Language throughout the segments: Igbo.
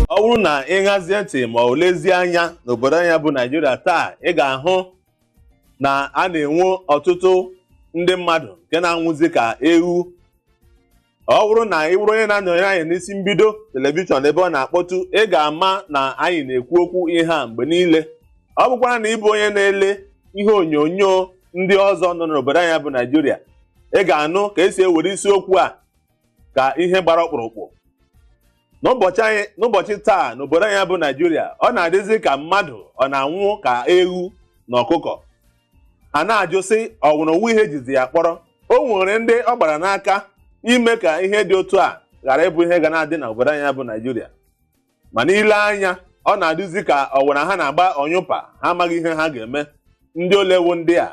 ọ bụrụ na ị ṅazie ntị ma ọ lezie anya n'obodo anyị bụ naijiria taa ị ga-ahụ na a na-enwe ọtụtụ ndị mmadụ nke na-anwụzi ka ewu ọ bụrụ na ị bụrụ onye na-anọnyere anyị n'isi mbido telivishọn ebe ọ na-akpọtụ ị ga-ama na anyị na-ekwu okwu ihe a mgbe niile ọ bụkwara na ị bụ onye na-ele ihe onyonyo ndị ọzọ nọ n'obodo anyị bụ naijiria ị ga-anụ ka e si ewere isiokwu a ka ihe gbara ọkpụrụkpụ n'ụbọchị taa n'obodo anyị bụ naijiria ọ na-adịzi ka mmadụ ọ na-anwụ ka ewu na ọkụkọ a na-ajụ sị ọ nwụrụ o nwe ihe e jizi ya kpọrọ o nwere ndị ọ gbara n'aka ime ka ihe dị otu a ghara ịbụ ihe ga na-adị n'obodo anyị bụ naijiria mana i lee anya ọ na-adịzi ka ọ wụrụ ha na-agba ọnyụpa ha amaghị ihe ha ga-eme ndị ole wụ ndị a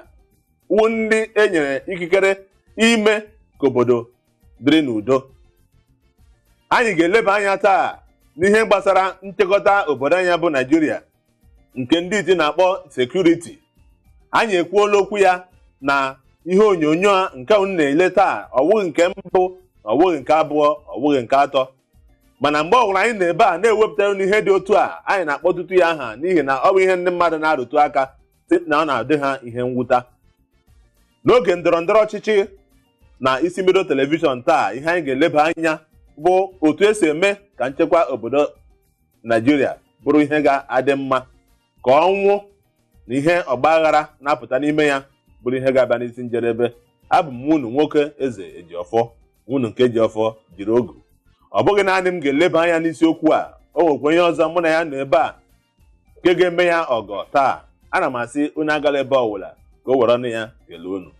wụ ndị e nyere ikikere ime ka obodo dịrị n'udo anyị ga-eleba anya taa n'ihe gbasara nchekọta obodo anyị bụ naijiria nke ndị iti na-akpọ sekuriti anyị ekwuola okwu ya na ihe onyonyo a nke unu na-ele taa ọ wụghị nke mbụ ọ wụghị nke abụọ ọ wụghị nke atọ mana mgbe ọbụla anyị nọ ebe a na-ewepụtara unu ihe dị otu a anyị na-akpọtụtụ ya aha n'ihi na ọ bụ ihe ndị mmadụ na-arụtụ aka sị na ọ na-adị ha ihe mwute n'oge ndọrọ ndọrọ ọchịchị na isi mbido telivishọn taa ihe anyị ga-eleba anya bụ otu e si eme ka nchekwa obodo naijiria bụrụ ihe ga-adị mma ka ọnwụ na ihe ọgbaghara na-apụta n'ime ya bụrụ ihe ga-abịa n'isi njedebe abụ m nwa unu nwoke eze ejiọfọ nwa unu nke ji ọfọ jiri ogu ọ bụghị naanị m ga-eleba anya n'isiokwu a o nwekwa onye ọzọ mụ na ya nọ ebe a nke ga-eme ya ọgọ taa ana m asị unu agala ebe ọbụla ka o were ọnụ ya kelee unu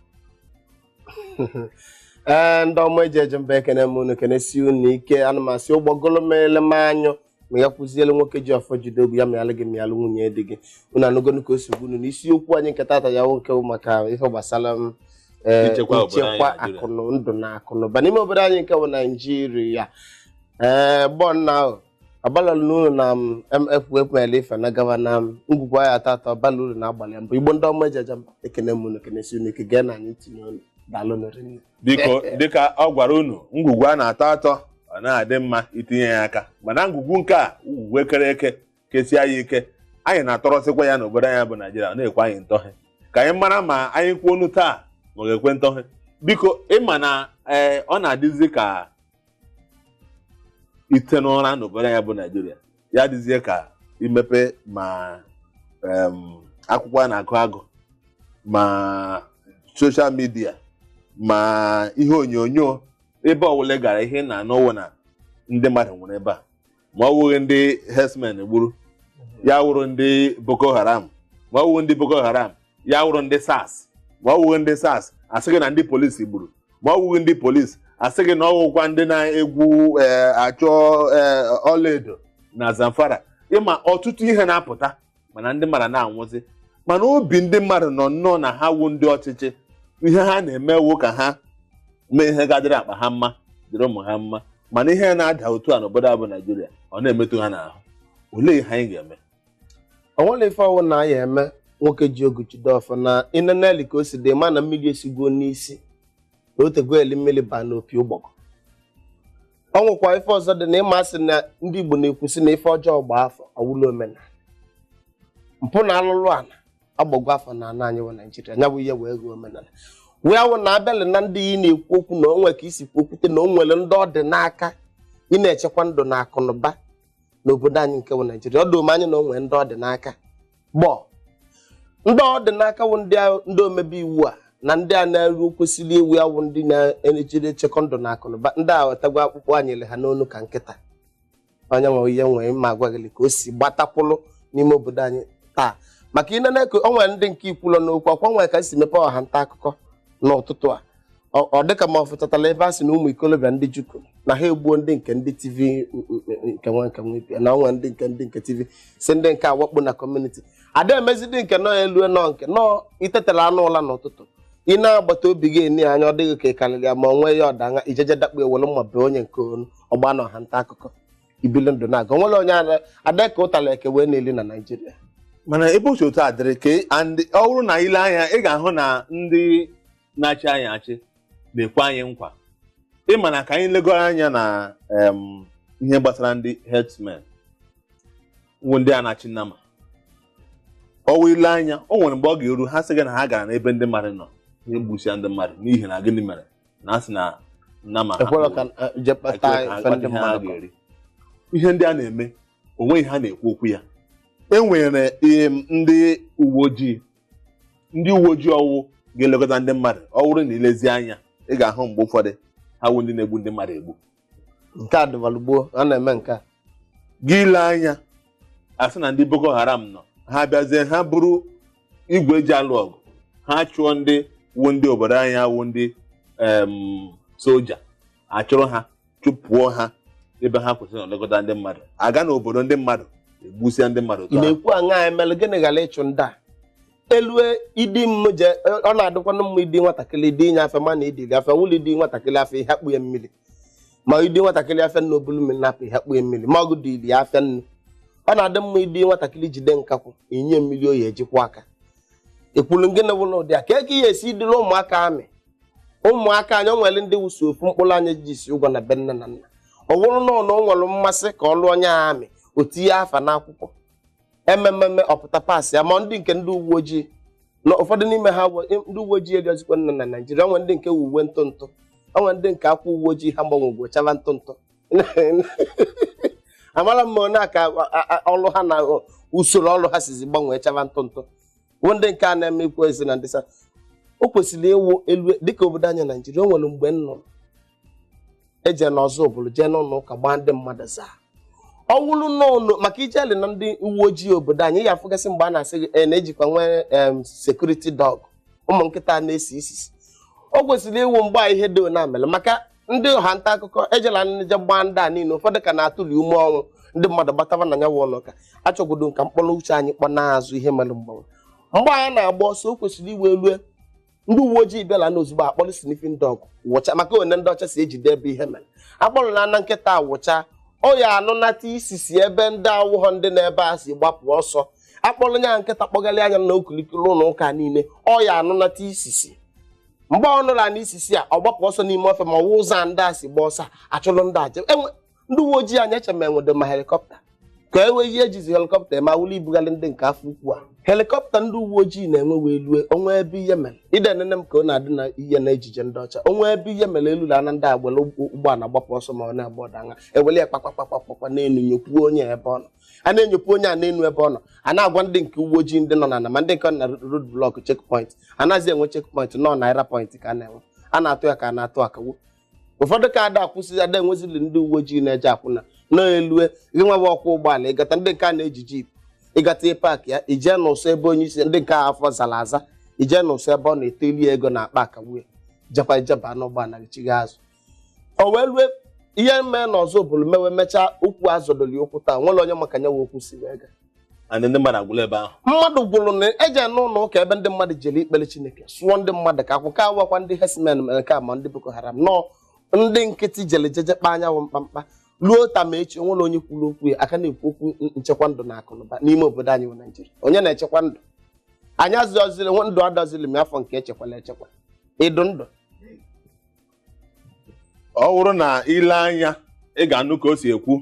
ee ndị ọma eji eje mba ekene m unu kenesie unu ike ana m asị ụgbọgụlụ mịalụ m anyụ ma ya kwụziele nwoke ji ọfọ jide ogu ya mịalụ gị mịalụ nwunye di gị unu anụgonu ka o si gwa unu na isiokwu anyị nke tata ya nwoke bụ maka ihe gbasara nchekwa akụ na ndụ na akụ na ụba n'ime obodo anyị nke bụ naijiria ee gbọ nna ahụ ọbalọlụ n'ụlọ na m mfu ekpemele ife na gava na m ngwugwu anyị tata ọ bala uru na agbalị mbụ igbo ndị ọma eji eje mba ekene m unu kenesie unu ike gee na anyị tinye unu daalụ nụ rinne biko dịka ọ gwara unu ngwugwu a na-atọ atọ ọ na-adị mma itinye ya aka mana ngwugwu nke a ngwugwu e kere eke kesie ya ike anyị na-atọrọsịkwa ya n'obodo anyị bụ naijiria ọ na-ekwe anyị ntọhe ka anyị mara ma anyị kwuo ọnụ taa ma ọ ga-ekwe ntọhe biko ị ma na ee ọ na-adịzi ka ite n'ụra n'obodo anyị bụ naijiria ya dịzie ka imepe ma em, akwụkwọ a na-agụ agụ ma soshal midia ma ihe onyonyo ebe ọwụla ị gara ihe ị na-anụ wụ na ndị mmadụ nwụrụ ebe a ma ọ wụghị ndị herdsmen gburu ya wụrụ ndị boko haram ma ọ wụghị ndị boko haram ya wụrụ ndị sars ma ọ wụghị ndị sars asị gị na ndị polisi gburu ma ọ wụghị ndị polisi asị gị na ọ wụkwa ndị na-egwu ee, achọ ee, ọlaedo na zamfara ịma ọtụtụ ihe na-apụta mana ndị mmadụ na-anwụzi mana obi ndị mmadụ nọ nnọọ na ha wụ ndị ọchịchị ihe ha na-eme wụ ka ha mee ihe ga-adịrị akpa ha mma dịrị ụmụ ha mma mana ihe na-ada otu a n'obodo a bụ naijiria ọ na-emetụ ha n'ahụ olee ihe anyị ga-eme o nwere ife ọ wụ na ya eme nwoke ji ogu jide ọfọ na ineneli ka o si dị ma na mmiri esigo n'isi na o tego eli mmiri baa n'opi ụgbọgọ o nwekwa ife ọzọ dị na ịma asị na ndị Igbo na-ekwusị na ife ọjọọ gbaa afọ ọ wụlụ omenala mpụ na alụlụ ala agbagwo afọ na ana anyị wụ Naijiria nya bụ ihe wee ghọọ omenala ebe ọ wụ na abịalị na ndị ị na-ekwu okwu na o nwe ka i si kwuo kwute na o nwere ndị ọ dị n'aka ịna-echekwa ndụ na akụ na ụba n'obodo anyị nke bụ naijiria o doro m anya na o nwere ndị ọ dị n'aka gboo ndị ọ dị n'aka wụ ndị a- ndị omebe iwu a na ndị a na-eru kwesịrị ịwụ ya wụ ndị na-ejiri echekwa ndụ na akụnụba ndị ahụ atagwo akpụkpọ a nyalụ ha n'onu ka nkịta onye nwe ihe nwee ma ọgbaghalị ka o si gbatakwụlụ n'ime obodo anyị taa maka ị nene o nwere ndị nke ikwulọ n'okwu akwa nwere ka m si mepee ọha nta akụkọ n'ụtụtụ a ọ ọ dịka ma ọ fụtatala ebe a sị na ụmụ ikolobịa ndị jukun na ha egbuo ndị nke ndị tiv nke nwa nke nwa ibia na ọnwa ndị nke ndị nke tiv si ndị nke awakpo na kọmuniti a da amazidi nke nọ elu na nke nọ i tetaranụ ụla n'ụtụtụ onye agbata obi gị e nee anya ọ dịghị ka ị karịrị ya ma ọ nwee ya ọdanya ijeje dakpu ewere mma bee onye nke onu ọgba na ọha nta akụkọ ibili ndụ na-aga o nwere onye ada- ada ka ụtara eke wee na-eli na naijiria mana ebe otu otu a dịrị ka and ọ bụrụ na ile anya ị ga-ahụ na ndị na-achị anyị achị na-ekwe anyị nkwa ịma na ka anyị legoro anya na em, ihe gbasara ndị herdsmen wụ ndị a na-achị nama ọ wụ ile anya o nwere mgbe ọ ga-eru ha sị gị na ha gara n'ebe ndị mmadụ nọ je gbusia ndị mmadụ n'ihi na gịnị mere na a sị na nama ha ekwere ka eh, je ekwe kpata ka ha ife ndị kpata ihe ha mmadụ kọ. ga-eri ihe ndị a na-eme o nweghị ha na-ekwu okwu ya e nwere em, ndị uwe ojii ndị uwe ojii ọ wụ ga-elekọta ndị mmadụ ọ bụrụ na ilezi anya ị ga-ahụ mgbe ụfọdụ ha wụ ndị na-egbu ndị mmadụ egbu nke a dịbalụ gboo a na-eme nke a gị ile anya asị na ndị boko haram nọ ha bịazie ha buru igwe e ji alụ ọgụ ha chụọ ndị wụ ndị obodo anyị awụ ndị em, soja a chụrụ ha chụpụọ ha ebe ha kwesịrị na-elekọta ndị mmadụ aga n'obodo ndị mmadụ egbusịa ndị mmadụ ị na-ekwu aṅa emelụ gịnị ghara ịchụ ndị a elue idi m je ọ na-adịkwanụ mma idi nwatakịrị idi inye afịa mana idi gị afịa wụlụ idi nwatakịrị afịa ihe akpụ ya mmiri ma idi nwatakịrị afịa nnu obulu mmiri na-apụ ihe akpụ ya mmiri ma ọgụ dị ili ya afịa nnu ọ na-adị mma idi nwatakịrị jide nkakwụ inye mmiri ọ ya eji kwọọ aka ekwulu gịnị wụlụ ụdị a ka eke ihe esi idịla ụmụaka amị ụmụaka anyị o nwere ndị wụ sọ ofu mkpụrụ anya ji isi ụgwọ na be nne na nna ọ wụrụ na ọ na o nwere mmasị ka ọ lụọ onye amị o tinye afa n'akwụkwọ emememe ọ pụta paasị ya ma ndị nke ndị uwe ojii na ụfọdụ n'ime ha bụ ndị uwe ojii erizikwa nne na naijiria o nwee ndị nke wụ uwe ntụ ntụ o nwee ndị nke ka wụ uwe ojii ha gbanwegwo chava ntụ ntụ amara m na ka a- a- ọrụ ha na usoro ọrụ ha sizi gbanwee chava ntụ ntụ bụ ndị nke a na-eme ikwu ezi na ndị sars o kwesịrị ịwụ elue dịka obodo anyị naijiria o nwere mgbe m nụrụ eje n'ọzụbụlụ jee n'ụlọ ụka gbaa ndị mmadụ zaa ọ wụrụ n'ụlọ maka ijeli na ndị uwe ojii obodo anyị ị ya afụgasị mgbe a na-asị gị e na-ejikwa nwee em sekuriti dọg ụmụ nkịta na-esi isisi o kwesịrị ịwụ mgbe a ihe dị one a mere maka ndị ọha nta akụkọ ejela nje gbaa ndị a niile ụfọdụ ka na-atụli ume ọnwụ ndị mmadụ gbataba na nyawa ụlọ ụka achọgodo m ka m kpọrọ uche anyị kpọ n'azụ ihe mere mgbanwe mgbe anyị na-agba ọsọ o kwesịrị ịwụ elue ndị uwe ojii bịala na ozugbo akpọrọ sniffing dog wụcha maka one ndị ọcha si ejide ebe ihe mere akpọrọ na ana nkịta wụcha ọ ya anụnata isisi ebe ndị awụghọ ndị nọ ebe a si gbapụ ọsọ akpọrọ nya nkịta kpọgalịa nya na okilikiri ụlọ ụka niile ọ ya anụnata isisi mgbe ọ nụla n'isisi a ọ gbapụ ọsọ n'ime ọfịa ma ọwụ ụzọ a ndị a si gba ọsọ achụlụ ndị a jewe ndị uwe ojii anyị eche ma enwedo ma helikọpta ka e nwee ihe ejizi helikọpta eme awụla ibugharị ndị nke afọ ukwu a helikọpta ndị uwe ojii na-enwe wee lue o nwee ebe ihe mere ide nene m ka ọ na-adị na ihe na ejije ndị ọcha o nwee ebe ihe mere elu na ana ndị a gbara ụgbọala gbapụ ọsọ ma ọ na-agba ọdanya eweli ya kpakpakpakpakpakpa n'enu nyokwuo onye ebe ọ nọ a na-enyopụ onye a n'enu ebe ọ nọ a na-agwa ndị nke uwe ojii ndị nọ n'ana ma ndị nke nọ na road block checkpoint anazị enwe checkpoint nọ naira point ka a na-enwe a na-atụ ya ka a na-atụ akawo ụfọdụ ka ada akwụsị ada enwezili ndị uwe ojii na-eje akwụ n'ana elue gị nwa bụ ọkwọ ụgbọala ị gata ndị nke a na-eji jip ị gata ị paakịa i jee n'ụsọ ebe onye isi ndị nke a afọ zara aza i jee n'ụsọ ebe ọ na-etili ego na akpa akawu ya jekwa i jeba n'ụgbọala gị chigha azụ o wee lue ihe mee na ọzụbụlụ mewe mechaa okwu azọdoli okwu taa nwere onye ma ka nya wụ okwu si wee gaa and ndị mmadụ agwụla ebe ahụ mmadụ gwụrụ na eje n'ụlọ ụka ebe ndị mmadụ jere ikpere chineke sụọ ndị mmadụ ka akwụ ka ọ wụkwa ndị herdsmen mere nke a ma ndị boko haram nọọ ndị nkịtị jere jeje kpaa nya wụ mkpamkpa ruo taa ma echi o nwere onye kwuru okwu ya a ka na-ekwu okwu n- nchekwa ndụ na akụnụba n'ime obodo anyị bụ naijiria onye na-echekwa ndụ anyị azụziri ndụ adọziri m afọ nke echekwala echekwa ịdụ ndụ ọ wụrụ na i le anya ị ga-anụ ka o si ekwu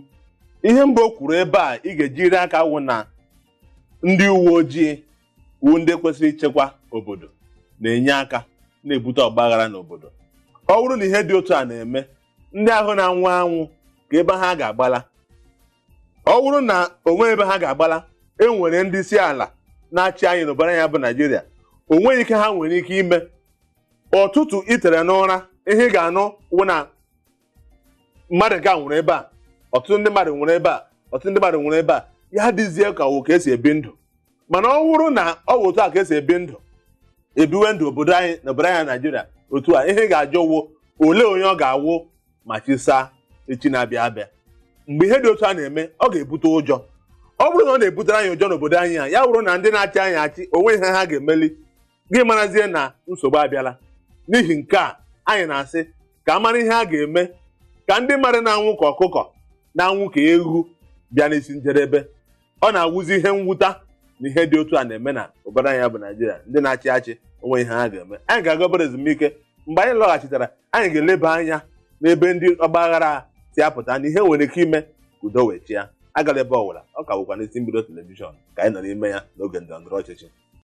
ihe mbụ o kwuru ebe a ị ga-ejiri aka wụ na ndị uwe ojii wụ ndị kwesịrị ichekwa obodo na-enye aka na-ebute ọgbaghara n'obodo ọ wụrụ na ihe dị otu a na-eme ndị ahụ na-anwụ anwụ kee ebe ha ga-agbala ọ wụrụ na o nweghị ebe ha ga-agbala e nwere ndị isi ala na-achị anyị n'obodo anyị a bụ naijiria o nweghị ihe ha nwere ike ime ụtụtụ i tere n'ụra ihe ị ga-anụ wụ na mmadụ nke a nwụrụ ebe a ọtụtụ ndị mmadụ nwụrụ ebe a ọtụtụ ndị mmadụ nwụrụ ebe a ya dịzie ka ọ wụ ka e si ebi ndụ mana ọ wụrụ na ọ wụ otu a ka e si ebi ndụ e biwe ndụ obodo anyị na obodo anyị naijiria otu a ihe ị ga-ajụ wụ olee onye ọ ga-awụ ma chi saa echi na-abịa abịa mgbe ihe dị otu a na-eme ọ ga-ebute ụjọ ọ wụrụ na ọ na-ebutere anyị ụjọ n'obodo anyị a ya wụrụ na ndị na-achị anyị achị o nweghị ihe ha ga-emeli gị marazie na nsogbu abịala n'ihi nke a anyị na-asị ka a mara ihe a ga-eme ka ndị mmadụ na-anwụ ka ọkụkọ na-anwụ ka ewu bịa n'isi njedebe ọ na-awụzi ihe mwụta na ihe dị otu a na-eme na obodo anyị a bụ naijiria ndị na-achị achị o nweghị ihe ha ga-eme anyị ga-aga obere ezumike mgbe anyị lọghachitara anyị ga-eleba anya n'ebe ndị ọgbaghara a si apụta na ihe e nwere ike ime ka udo wee chịa agala ebe ọ wụla ọ ka bụkwa n'isi mbido telivishọn ka anyị nọ n'ime ya n'oge ndọrọndọrọ ọchịchị